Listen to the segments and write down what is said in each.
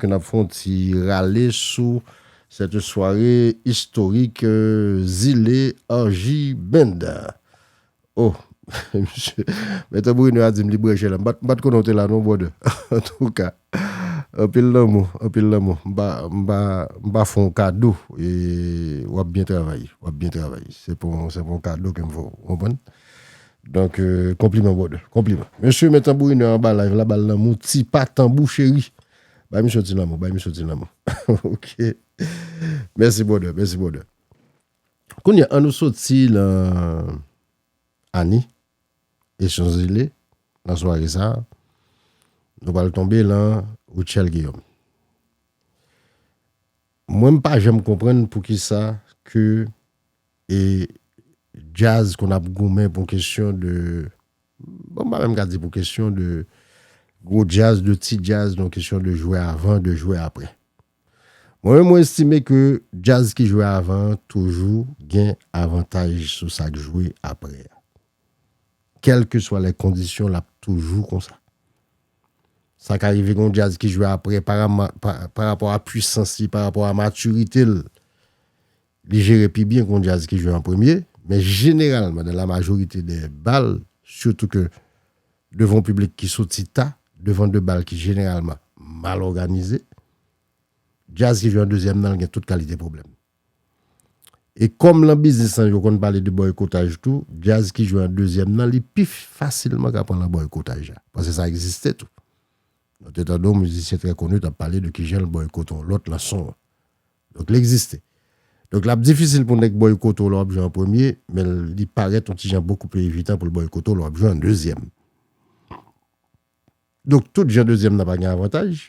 N ap fè yon ti rale sou cette soirée historique zile Angy Band. Oh! Msye Mèt Bruno a di m li branche la. M pa t konnen w te la non brother. Antouka, anpil lanmou, anpil lanmou. M pa fè w kado e w ap byen travay, w ap byen travay. Se pa yon kado ke m fè w, w konprann? Donk konpliman brother konpliman. Mesye men tanbourinè anba live la bal lanmou ti pa tanbou cheri bay misye yon ti lanmou bay misye yon ti lanmou ok mèsi brother mèsi brother kounya an nou soti nan Annie et Chanzele nan sware sa nou pral tonbe lan Rutshelle Guillaume mwen m pa janm konprann poukisa ke E djaz konn ap goumen pou kesyon de, bon m pa menm ka di pou kesyon de gwo djaz, de ti djaz nan kesyon de jwe avan, de jwe aprè. Mwen menm mwen estime ke djaz ki jwe avan an toujou gen avantaj sou sa k jwe aprè a. Kèlkeswa lè kondisyon l ap toujou konsa. Sa ka rive gen yon djaz ki jwe aprè parapò a pwisans li, parapò a matirite l, Li jere pi byen kon jazz ki jwe an premye, men jeneralman nan la majorite dè bal, sitou ke devan yon piblik ki soti ta, devan de bal ki jeneralman mal òganize, jazz ki jwe an dezyèm nan gen tout kalite pwoblèm. E kòm lan biznis lan yo konn pale de bòykotaj tou, jazz ki jwe an dezyèm nan li pi fasilman ka pran lan bòykotaj la, paske sa egziste tou. Nou te tande yon mizisyen trè koni t ap pale de kijan l bòykote yon lòt lan son an. Donk l egziste. Donk l ap difisil pou nèg bòykote w lè w ap jwe an premye, men li parèt yon ti jan bokou pli evitan pou l bòykote w lè w ap jwe an dezyèm. Donk tout jan dezyèm nan pa gen avantaj.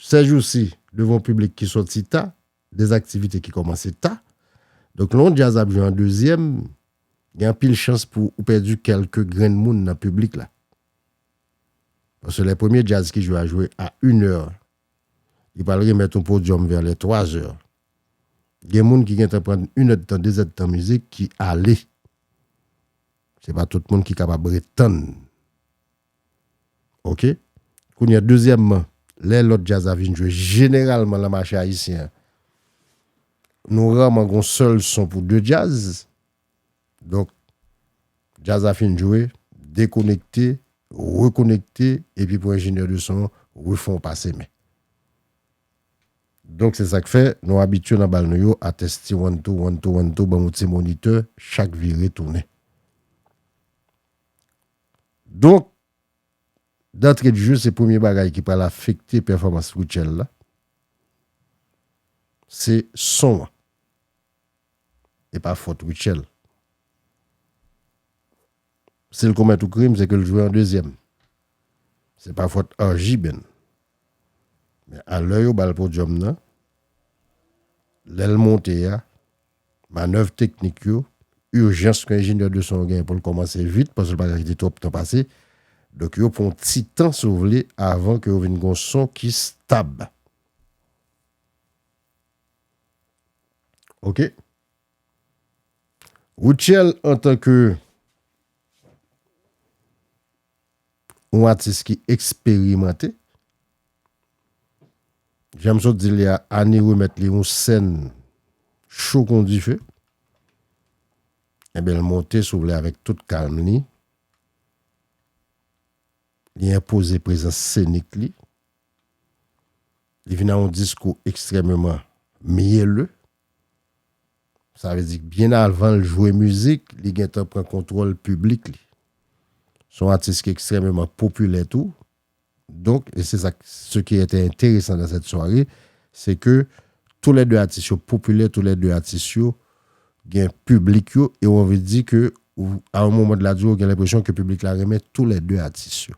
Sèjousi, devan yon piblik ki soti ta, de aktivite ki kòmanse ta, donk lè yon djaz ap jwe an dezyèm, gen anpil chans pou ou pèdi kèlke grenn moun nan piblik la. Paske lè premye djaz ki jwe a jwe a inè, Li pral remèt yon podyòm vè lè 3 zè. Gen moun ki gentan pran 1 èdtan, 2 èdtan mizik ki ale. Se pa tout moun ki kapab ret tann. Ok. Kounye a dezyèmman, lè lòt djaz la vin jwe jeneralman lan mache ayisyen an, nou raman gen yon sèl son pou 2 djaz, Donk djaz la fin jwe, dekonekte, rekonekte epi pou enjenyè de son an refè w pase men. Donk se sa k fè nou abitye nan bal nou yo a testi one two, one two, one two ban yon ti monitè chak vire tounen. Donk dantre de jeu se premye bagay ki pral afekte pèfòmans Rutshelle la se son an. e pa fòt Rutshelle. Si l komèt yon krim, se ke l jwe an dezyèm. Se pa fòt Angy Ben. Men a lè yo ba l podyòm nan, lè l monte a, manèv teknik yo, ijans ke enjenyè de son yo genyen pou l kòmanse vit, paske l pa ka kite twòp tan pase, donk yo pran yon ti tan si w vle avan ke yo vin gen yon son ki stab. Ok. Rutshelle an tan ke yon atis ki eksperimante, jan m sot di li a, Annie remèt li yon sèn cho kon dife, enben l monte si w vle avèk tout kalm li, li enpoze prezans senik li, Li vin an yon diskou ekstrèmeman myèle. Sa vle di byen avan l jwe mizik, li gen tan pran kontwòl piblik li. Se yon atis ki ekstrèmeman popilè tou. Donk, e se sa k, se ki ete enteresan dan sèt sware, se ke tou lè de atis yo popilè, tou lè de atis yo gen piblik yo e w anvi di ke a yon moman de la durée w gen lenpresyon ke piblik la renmen tou lè de atis yo.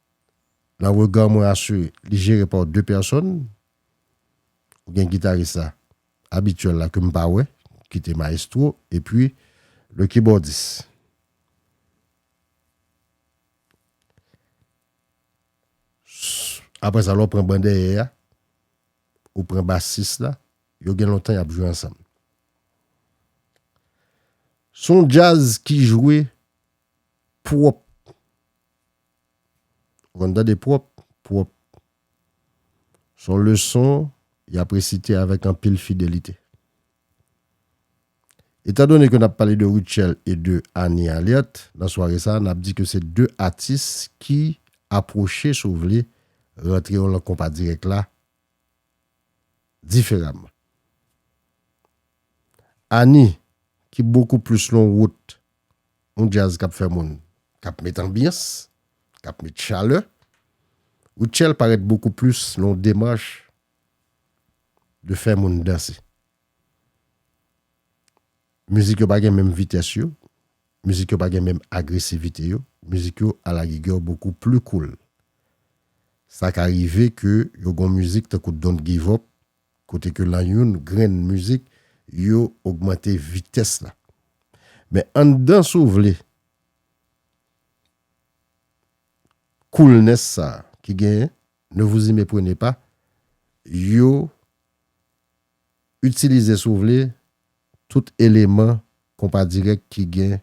Nan rega mwen asire li jere par 2 pèsòn ou gen gitaris la abityèl la ke m pa wè ki te maestro epi le kibòdis. Aprè sa lè w pran ban dèyè a ou pran basis la yo gen lontan y ap jwe ansanm. Se yon djaz ki jwe pwòp. Ou konn tande pwòp, pwòp. S on leson y ap resite avèk anpil fidelite. Etandone ke n ap pale de Rutshelle e de Annie Alerte nan sware sa a, n ap di ke se 2 atis ki apwoche, si w vle, rantre yo lan konpa dirèk la diferaman. Annie, ki bokou plis lon wout yon djaz k ap fè moun, k ap met anbyans, k ap met chalè. Rutshelle parèt bokou plis nan yon demach de fè moun danse. Mizik yo pa gen menm vitès yo, mizik yo pa gen menm agresivite yo, mizik yo alarigè bokou pli koul. Sa ka rive ke yo gen yon mizik tankou Don't Give Up kote ke lan youn grenn mizik yo ogmante vitès la. Men anndan si w vle coolness sa ki genyen, ne vous y meprenez pas, yo itilize si w vle tout eleman konpa dirèk ki gen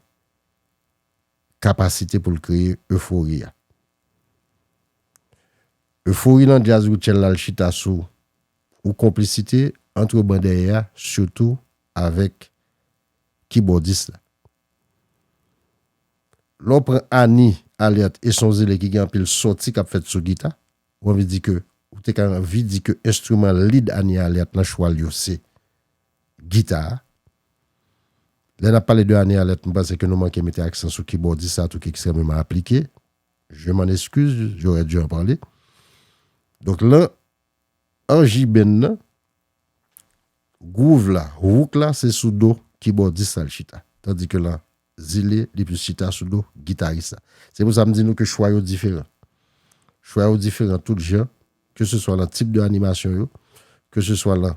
kapasite pou l kreye efori a. Efori nan djaz Rutshelle la l chita sou ou konplisite antre ban dèyè a sitou avèk kibòdis la. Lè w pran Ani, Alerte e Son Zele ki gen anpil sòti k ap fèt sou gita, ou anvi di ke ou te ka anvi di ke enstriman lead Ani Alerte nan chwa l yo se gita a. Lè n ap pale de ane alèt, m panse ke nou manke mete aksan sou kibòdis sa tou ki ekstrèmeman aplike. Je m'en excuse, j'aurais dû en parler. Donk lan anjiben nan, gwouv la, hook la se sou do kibòdis la l chita. Tandi ke lan Zile, li plis chita sou do gitaris la. Se pou sa m di nou ke chwa yo diferan. Chwa yo diferan tout jan, ke se swa lan tip de animasyon yo, ke se swa lan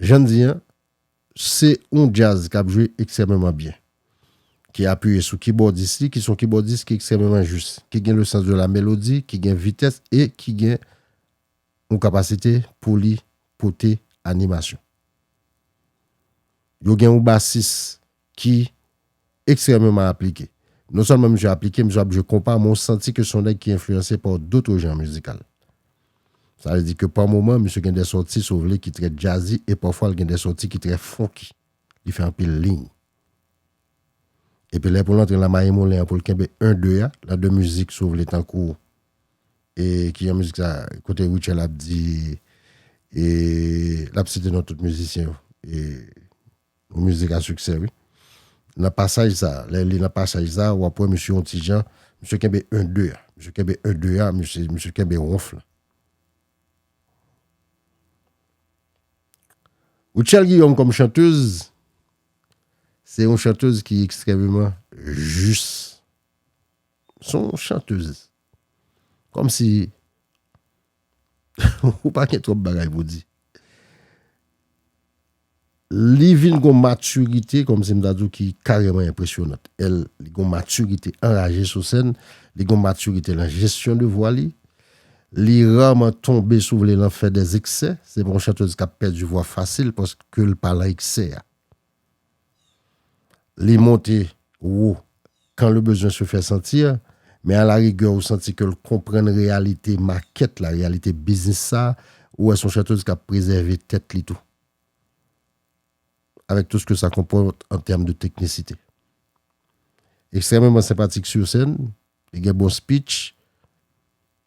Jan n di an, se yon djaz k ap jwe ekstrèmeman byen, ki apiye sou kibòdis li, ki se yon kibòdis ki ekstrèmeman jis, ki gen le sans de la mélodie, ki gen vitès e ki gen yon kapasite pou li pote animasyon. Yo gen yon basis ki ekstrèmeman aplike. Non sèlman misye aplike, misye ap jwe konpa, men w santi ke se yon nèg ki enfliyanse pa dotre janr mizikal. Sa vle di ke pa moman, misye gen de sòti, si w vle, ki trè djazzy, e pafwa l gen de sòti ki trè funky. Li fè anpil liy. Epi lè pou l antre nan mayi moulen an, pou l kenbe 1, 2 a, lan 2 mizik, si w vle, tankou, e ki jan mizik sa, kote Rutshelle ap di, e, l ap site non tout mizisyen yo, e. Yon mizik a siksè wi. Nan pasaj sa, lè li nan pasaj sa, wap wè misye yon ti jan, misye kenbe 1 2 a, misye kenbe 1 2 a, misye kenbe ronf la. Rutshelle Guillaume kòm chantez, se yon chantez ki ekstrèmeman jis. Son chantez. Kòm si Ou pa gen twòp bagay pou di. Li vin gon maturite kòm si m ta di w ki kareman enpresyonant. El li gon maturite anraje sou sèn, li gon maturite lan jesyon de vwa li, li raman tonbe si w vle lan fè dè zeksè, se pa yon chantez kap pèdi vwa fasil paske l pa lan eksè a. Li monte wou kan le bezwen se fè santi, men a la rigè ou santi ke l konprann reyalite makèt la, reyalite biznis sa, ou wè se yon chateuse k ap prezève tèt li tou. Avèk tou ske sa konpòte an tèm de teknisite. Ekstrèmeman senpatik sur sèn, li gen bon speech,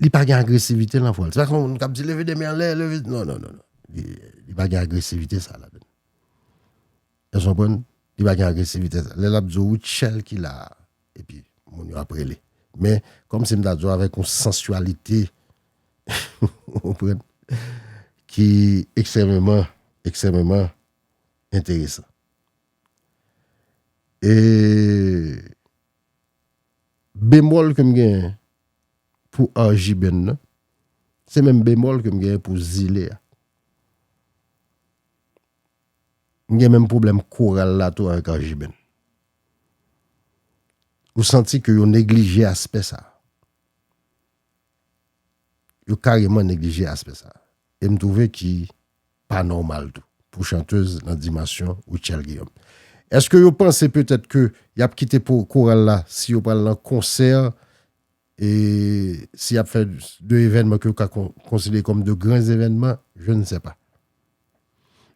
li pa gen agresivite nan vwa l. Se pa kòm moun k ap di leve de men an lè, leve, non, non, non, li pa gen agresivite sa ladan l. Èske w konprann? Li pa gen agresivite sa. Lè l ap di w Rutshelle ki la a, epi moun yo ap rele. Men, kòm si m ta di w avèk yon sansyalite, ou konprann, ki ekstrèmeman, ekstrèmeman enteresan. E. Bemòl ke m genyen pou arjibenn nan, se menm bemòl ke m genyen pou zile a. M gen menm pwoblèm koral la tou avèk arjibenn. Ou santi ke yo neglije aspè sa. Yo kareman neglije aspè sa. E m twouve ki pa nòmal tou pou chantez nan dimansyon Rutshelle Guillaume. Eske yo panse petèt ke yap kite pou koral la si yo pral nan konsè e si yap fè de evènman ke yo ka konsidere kòm de gran zevènman? Je ne sais pas.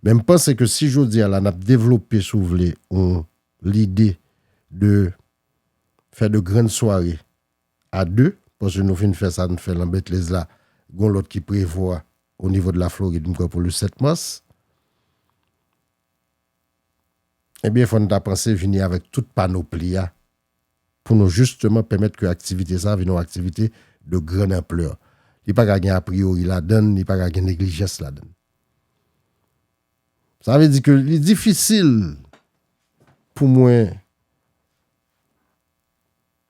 Men m panse ke si jodi a la nap devlope si w vle yon lide de fè de grann sware a 2, paske nou fin fè sa n fè lan Betlez la, gon lòt ki prevwa o nivo de la Florid m kwè pou le 7 mas. Ebyen fò n ta panse vini avèk tout panopli a pou nou jisteman pèmèt ke aktivite sa vin on aktivite de grand amplè. Li pa ka gen apriyori ladan n, li pa ka gen neglijans ladan n. Sa vle di ke li difisil pou mwen.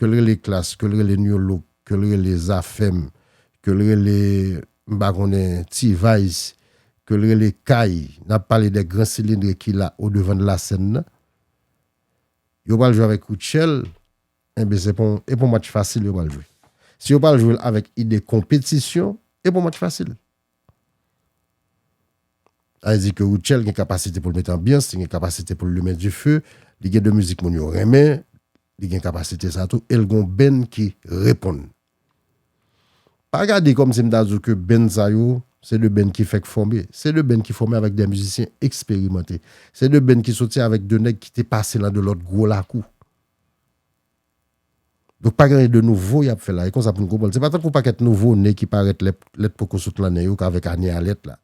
ke l rele klass, ke l rele new look, ke l rele zafèm, ke l rele m pa konnen T-vice, ke l rele kay, n ap pale de gran silindre ki la o devan de la sèn nan, yo pral jwe avèk Rutshelle, enben se pa e pa yon match fasil yo pral jwe. Si yo pral jwe l avèk ide konpetisyon, e pa yon match fasil. Sa vle di ke Rutshelle gen kapasite pou l mete anbyans, li gen kapasite pou l limen dife, li gen de mizik moun yo renmen, Li gen kapasite sa tou el gon benn ki reponn. Pa gade kom si m ta di w ke benn sa yo se 2 benn ki fèk fome. Se 2 benn ki fome avèk 2 mizisyen eksperimante. Se 2 benn ki soti avèk 2 nèg ki te pase lan 2 lot gwo lakou. Donk pa gen anyen de nouvo yap fè la. E konsa pou n konprann. Se pa tankou pakèt nouvo ne ki parèt lèt poko sot lan nen yo ka vèk ane alèt la.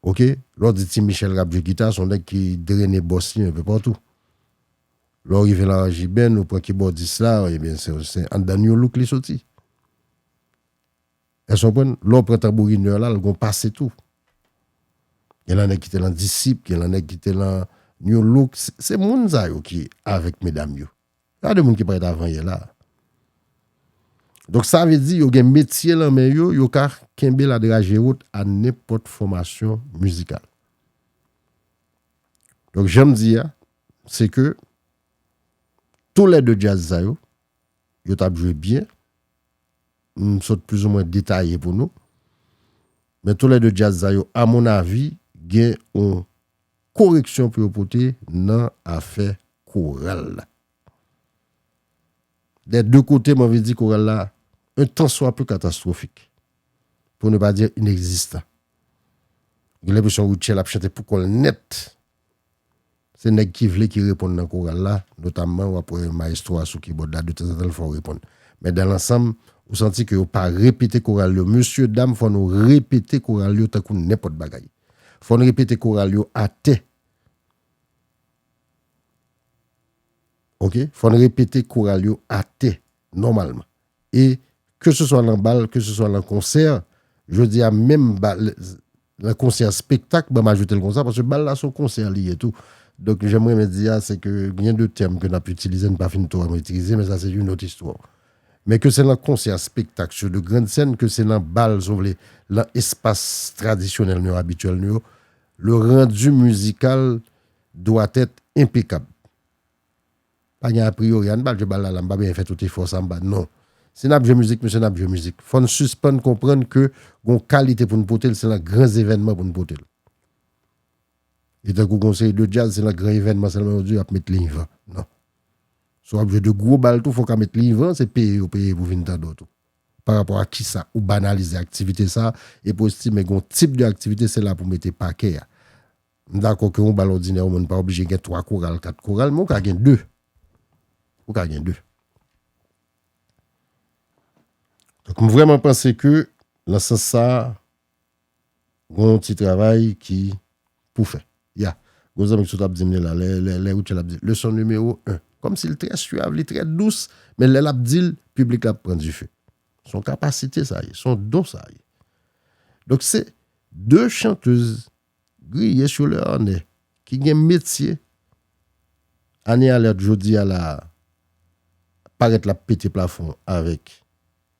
ok lè w di ti Michel kap jwe gita se yon nèg ki drene bòs li enpe patou lè w rive laranjibèn ou pran kibòdis la ebyen se anndan new look li soti èske w konprann lè w pran tanbourinè la l gon pase tou gen nan nèg ki te nan disip gen nan nèg ki te nan new look se moun sa yo ki avèk medam yo. Sa de moun ki parèt avan yè la. Donk sa vle di yo gen metye lan men yo, yo ka kenbe la draje wot a nenpòt fòmasyon mizikal. Donk jan m di a, se ke tou lè de djaz sa yo, yo t ap jwe byen, m sot plouzoumen detaye pou nou, men tou lè de djaz sa yo, a mon avi, gen yon koreksyon pou yo pote nan afè koral la. Dè de kote m anvi di koral la un tan swa peu katastwofik, pou ne pa dire inegzistan. Gen lenpresyon Rutshelle ap chante pou kòl nèt. Se nèg ki vle ki reponn nan koral la, notamman w ap wè maestro a sou kibòd la de tanzantan l fè w reponn. Men dan lansanm, ou santi ke yo pa repete koral yo. Mesye dam fò nou repete koral yo tankou nenpòt bagay. Fò n repete koral yo atè. Ok, fò n repete koral yo atè nòmalman. E ke se swa lan bal, ke se swa lan konsè, jodi a menm bal, lan konsè a spektak, ban m ajoute l konsa, paske bal la se yon konsè li ye tou. Donk jan m renmen di a, se ke gen de tèm ke n ap itilize n pa fin twò metrize, men sa se yon lòt istwa. Men ke se lan konsè a spektak sou de grand sèn ke se lan bal si w vle lan espas tradisyonèl nou yo abityèl nou yo le rendu musical doit être impeccable pa gen apriyori an n pa al jwe bal la la m pa bezwen fè tout efò sa m pa non si n ap jwe mizik mesye n ap jwe mizik fò n sispann konprann ke gon kalite pou n pote l se lan gran zevènman pou n pote l e tankou gon seri de djaz se lan gran evènman sèlman yo di yo ap met linvan non Si w ap jwe 2 gwo bal tou fò w ka met livan, se peye yo peye pou vin tande w tou. Pa rapò ak kisa ou banalize aktivite sa epi w estime gen yon tip de aktivite se la pou w mete pakè a. M dakò ke yon bal òdinè yon moun pa oblije gen 3 koral, 4 koral men ou ka gen 2. Ou ka gen 2. Donk m vrèman panse ke nan sans sa Gon ti travay ki Pou fè. Ya Gon zanmi ki sot ap dim li la lè Rutshelle ap di leson nimewo 1 kòmsi li trè suav li trè dous men lè lap dil piblik la ap pran dife son kapasite sa ye son don sa ye donk se 2 chantez griye sou lè anè ki gen metye Anie Alerte jodi a la parèt lap pete plafon avèk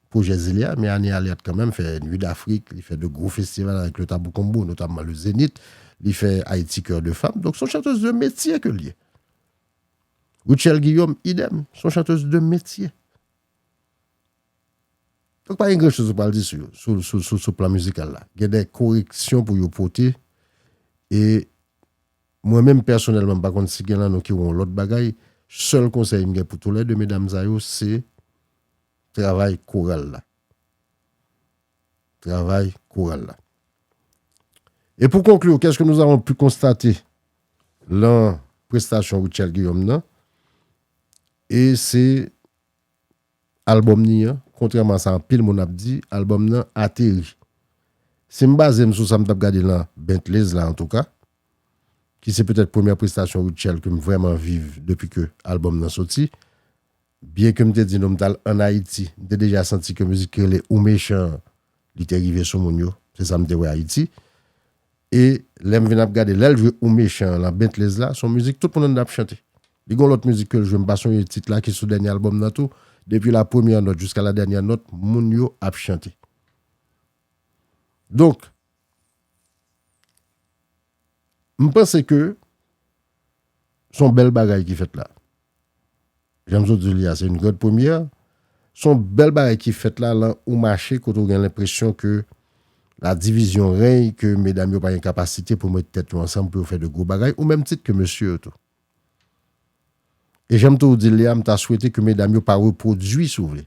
Pwojè Zile a, men ane a li ap kanmenm fè Nuit d'Afrik, li fè 2 gwo festival avèk le Tabou Combo, notamman le Zenith, li fè Haïti Coeur de Femme, donk son chanteuse de metye ke li ye. Rutshelle Guillaume, idem, son chanteuse de metye. Donk pa gen gran choz ou pral di sou yo, sou plan mizikal la. Gen de koreksyon pou yo pote, e mwen menm pèsonèlman, m pa konn si gen lan nou ki wè yon lòt bagay, sèl konsèy m gen pou tou lè 2 medam sa yo, se Travay koral la. Travay koral la. E pou konklu, kèske nou avon pu konstate lan prestasyon Rutshelle Guillaume nan? E se albòm ni an, kontrèman a sa anpil moun ap di, albòm nan ateri. Si m baze m sou sa m t ap gade lan Bentley's la antouka, ki se petèt premyè prestasyon Rutshelle ke m vrèman viv depi ke albòm nan soti, Byen ke m te di nou m t al ann Ayiti, m te deja santi ke mizik ki rele Ou Mechan an, li te rive sou moun yo, se sa m te wè Ayiti. E lè m vin ap gade, lè l jwe Ou Mechan an lan Bentley's la, se yon mizik tout moun anndan ap chante. Li gen yon lòt mizik ke l jwe, m pa sonje tit la, ki sou dènye albòm nan tou, depi la premyè nòt jiska la dènyè nòt, moun yo ap chante. Donk, m panse ke se yon bèl bagay ki fèt la. Jan m sot di w li a, se yon grande première. Se yon bèl bagay ki fèt la lan yon mache kote w gen lenpresyon ke la division règne, ke medam yo pa gen kapasite pou met tèt yo ansanm pou yo fè de gwo bagay, o menm tit ke mesye yo tou. E jan m tou di l li a, m ta swete ke medam yo pa repwodui, si w vle,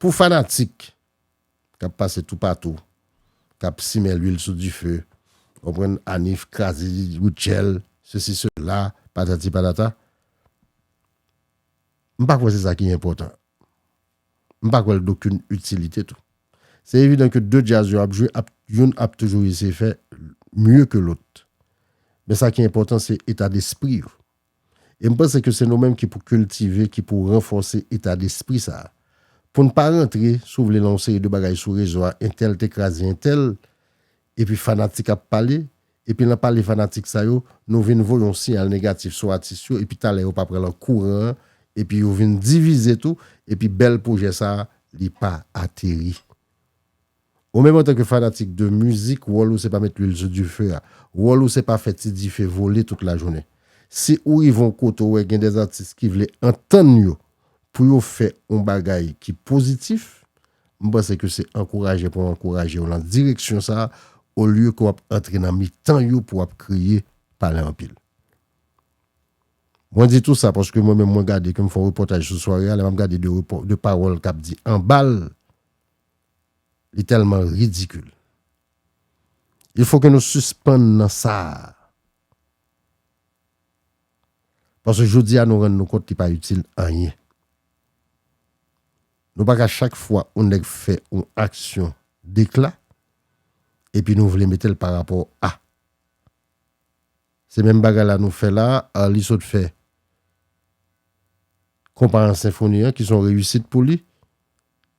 Pou fanatik k ap pase toupatou, k ap simen lwil sou dife, ou konprann, Anif kraze Rutshelle, sesi sela, patati patata, m pa kwè se sa ki enpòtan. M pa kwè l gen okenn itilite tou. Se evidan ke 2 djaz yo ap jwe, youn ap toujou eseye fè mye ke lòt. Men sa ki enpòtan se etadespri yo. E m panse ke se nou menm ki pou kiltive, ki pou ranfòse eta despri sa a. Pou n pa rantre, si w vle, nan yon seri de bagay sou rezo a, entèl te kraze entèl, epi fanatik ap pale, epi nan pale fanatik sa yo, nou vin voye yon siyal negatif sou atis yo, epi talè yo pa pran lan kouran an, epi yo vin divize tou, epi bèl pwojè sa a, li pa ateri. Ou menm antanke fanatik de mizik wòl ou se pa met lwil sou dife a, wòl ou se pa fè ti dife vole tout lajounen. Si ou rive yon kote ou wè gen de atis ki vle antann yo pou yo fè yon bagay ki pozitif, m panse ke se ankouraje pou w ankouraje yo lan direksyon sa olye ke w ap antre nan mitan yo pou w ap kriye, pale anpil. Mwen di tou sa paske mwen menm mwen gade ke m fè yon repòtaj sou sware a lè m ap gade de pawòl k ap di anba l Li tèlman ridikil. Il fo ke nou sispann nan sa a. Paske jodi a nou rann nou kont li pa itil anyen. Nou pa ka chak fwa yon nèg fè yon aksyon dekla epi nou vle mete l pa rapò a. Se menm bagay la nou fè la a, Arly sot fè konpa an senfoni an ki son reyisit pou li.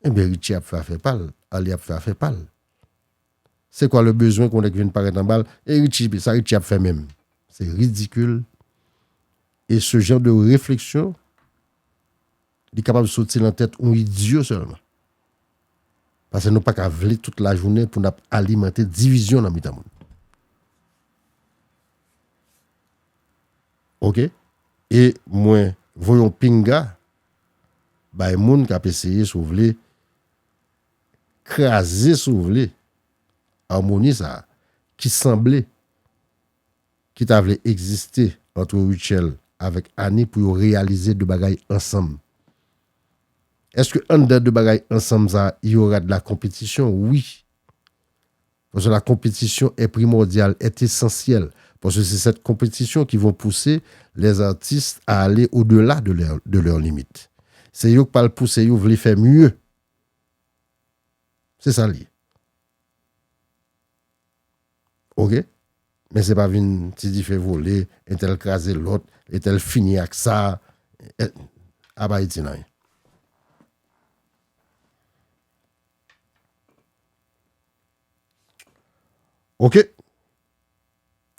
Ebyen Richie ap fè afè pal, Arly ap fè afè pal. Se kwa le bezwen ke yon nèg vin parèt anbal, e Richie, sa Richie ap fè menm? Se ridikil, e se jan de refleksyon li kapab soti lan tèt yon idyo sèlman. Pase nou pa ka vle tout la jounen pou nap alimante divizyon lan mitan moun. Ok, e mwen voye yon pinga bay moun kap eseye si w vle kraze si w vle amoni sa ki sanble ki ta vle egziste antre Rutshelle avèk Annie pou yo reyalize 2 bagay ansanm. Eske anndan 2 bagay ansanm sa yo rad la konpetisyon? Wi. Paske la konpetisyon è primòdyal, è esansyèl, paske se sèt konpetisyon ki von pouse lèz atis a ale o dela de lè de lèur limit. Se yo k pral pouse yo vle fè mieu. Se sa l ye. Ok? Men se pa vin ti dife vole, entèl kraze lòt, etèl fini ak sa, et ap Ayiti nan yen. Ok.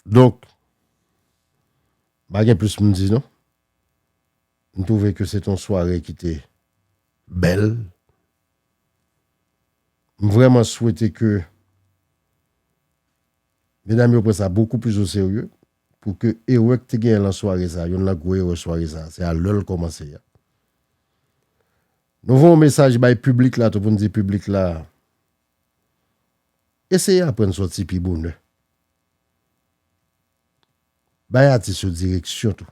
Donk, pa gen plis pou m di non. M twouve ke se te yon sware ki te bèl. M vrèman swete ke medam yo pran sa bokou plis o serye pou ke erè ki te genyen lan sware sa, youn lan gwo erè sware sa, se a lè l kòmanse a. Nou voye yon mesaj bay piblik la tou pou n di piblik la eseye aprann sòti pi bonè. Bay atis yo direksyon tou.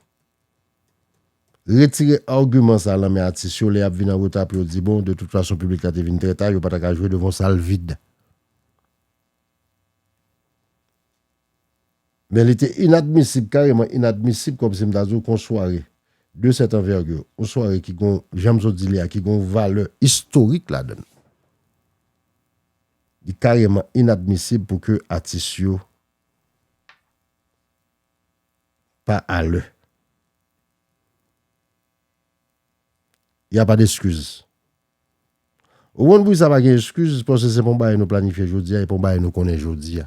Retire agiman sa lan men atis yo lè y ap vin anreta pou yo di bon de tout fason piblik la te vin trè ta yo pa ta ka jwe devan yon sal vid. Men li te inadmisib, kareman inadmisib kòm si m ta di w ke yon sware de cette envergure, yon sware ki gon, jan m sot di li a, ki gon valè istorik ladan l, li kareman inadmisib pou ke atis yo pa a lè. Ya pa deskiz. Ou konn pou ki sa pa gen eskiz, paske se pa yon bagay nou planifye jodi a, e pa yon bagay nou konnen jodi a.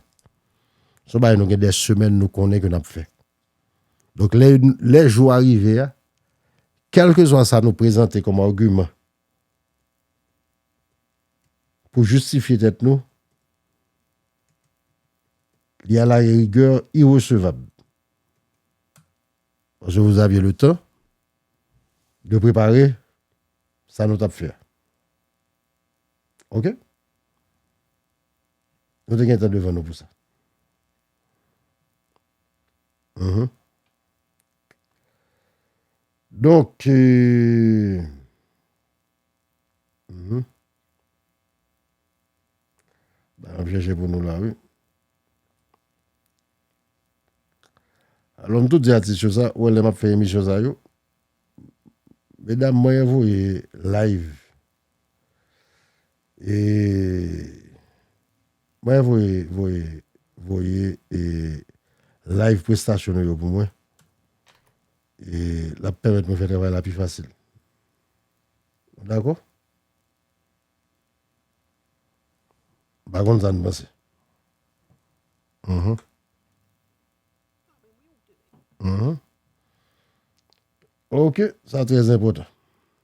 Se yon bagay nou gen dè semèn nou konnen ke n ap fè. Donk lè, lè jou a rive a, kèlkeswa sa nou prezante kòm agiman pou jistifye tèt nou, li a la rigè iresevab. Paske vou aviye le tan de prepare. sa nou t ap fè a. Ok? Nou te gen tan devan nou pou sa. Donk, ap jèjè pou nou la wi. Alò m toujou di atis yo sa, wè lè m ap fè emisyon sa yo. Medam mwen e voye live e mwen e voye voye voye e live prestasyon nou yo pou mwen e lap pèmèt mwen fè travay la pi fasil nou dakò m pa konn sa nou panse Uhum. Ok, sa trèzenpòtan.